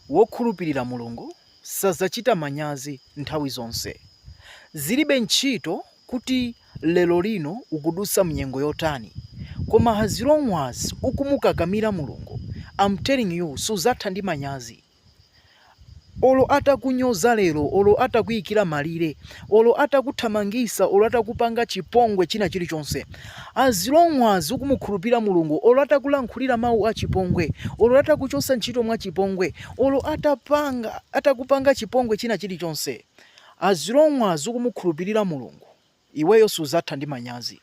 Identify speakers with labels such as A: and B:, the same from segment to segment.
A: Wokhulupirira Mulungu sadzachita manyazi nthawi zonse. Zilibe ntchito kuti lerolino ukudutsa mnyengo yotani, koma as long as ukumukakamira Mulungu, I'm telling you sudzatha ndi manyazi. Olo atakunyoza lero, olo atakuikira malire, olo atakuthamangisa olo atakupanga chipongwe china chilichonse as long as ukumukhulupirira mulungu olo atakulankhulira mau achipongwe olo atakuchosa ntchito mwachipongwe olo atapanga atakupanga chipongwe china chilichonse as long as ukumukhulupilira mulungu iweyo suzatha ndi manyazi.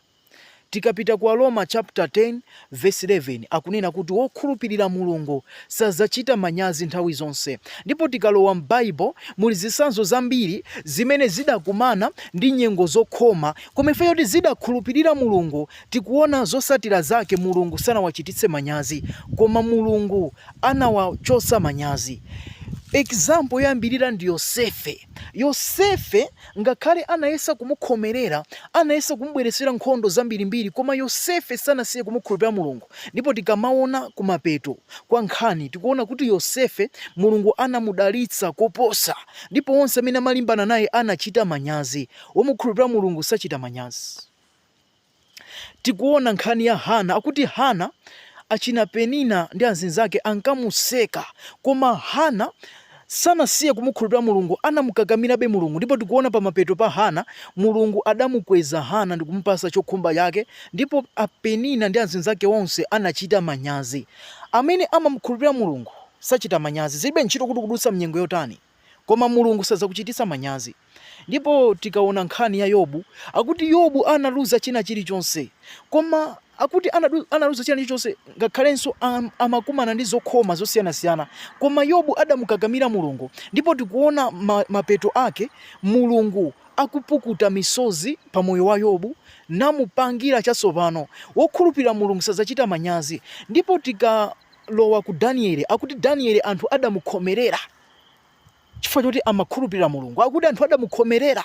A: Tikapita ku Aroma chaputala 10 vesi 11, akunena kuti wokhulupirira Mulungu sadzachita manyazi nthawi zonse. Ndipo tikalowa m'Baibulo, muli zitsanzo zambiri zimene zidakumana ndi nyengo zokhoma, koma chifukwa choti zidakhulupirira Mulungu, tikuona zotsatira zake Mulungu sanawachititse manyazi, koma Mulungu anawachotsa manyazi. Example yoyambirira ndi Yosefe. Yosefe, ngakhale anayesa kumukhomerera, anayesa kumubweretsera nkhondo zambirimbiri, koma Yosefe sanasiye kumukhulupirira Mulungu. Ndipo tikamaona kumapeto kwa nkhani, tikuona kuti Yosefe, Mulungu anamudalitsa koposa, ndipo onse amene amalimbana naye anachita manyazi. Womukhulupirira Mulungu sachita manyazi. Tikuona nkhani ya Hannah akuti Hannah achina Penina ndi azinzake ankamuseka koma Hannah sanasiye kumukhulupira Mulungu anamukakamirabe Mulungu ndipo tikuona pamapeto pa Hannah Mulungu adamukweza Hannah ndikumupasa chokhumba chake ndipo a Penina ndi azinzake onse anachita manyazi. Amene amamukhulupira Mulungu sachita manyazi zilibe ntchito kuti ukudutsa mnyengo yotani. Koma Mulungu sadzakuchititsa manyazi. Ndipo tikaona nkhani ya Yobu, akuti Yobu analuza china chilichonse. Koma akuti anadu, analuza china chilichonse ngakhalenso am, amakumana ndi zokhoma zosiyanasiyana. Koma Yobu adamukakamira Mulungu ndipo tikuona ma, mapeto ake Mulungu akupukuta misozi pa moyo wa Yobu namupangira chatsopano. Wokhulupirira Mulungu sadzachita manyazi. Ndipo tikalowa ku Daniele, akuti Daniele anthu adamukhomerera. Chifukwa choti amakhulupirira Mulungu, akuti anthu adamukhomerera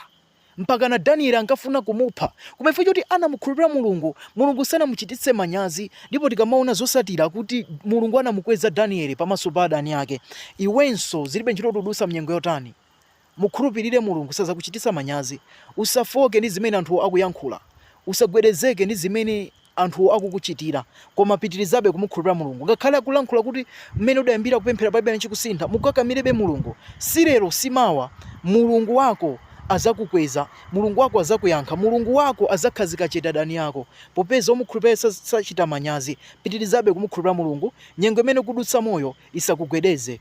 A: mpakana Danieli ankafuna kumupha. Koma chifukwa choti anamukhulupirira Mulungu, Mulungu sanamuchititse manyazi. Ndipo tikamaona zosatira kuti Mulungu anamukweza Danieli pamaso pa adani ake, iwenso zilibe ntchito kuti ukudusa mnyengo yotani, mukhulupirire Mulungu sazakuchitisa manyazi. Usafooke ndi zimene anthu akuyankhula. Usagwedezeke ndi zimene. anthu akukuchitira. Koma pitirizabe kumukhulupirira Mulungu. Ngakhale akulankhula kuti mmene udayambira kupemphera palibe chimene chikusintha, mukakamirebe Mulungu. Si lero, si mawa. Mulungu wako azakukweza. Mulungu wako azakuyankha. Mulungu wako azakhazika chete adani yako. Popeza omukhulupirira sachita manyazi. Pitirizabe kumukhulupirira Mulungu. Nyengo imene ukudutsamoyo isakugwedeze.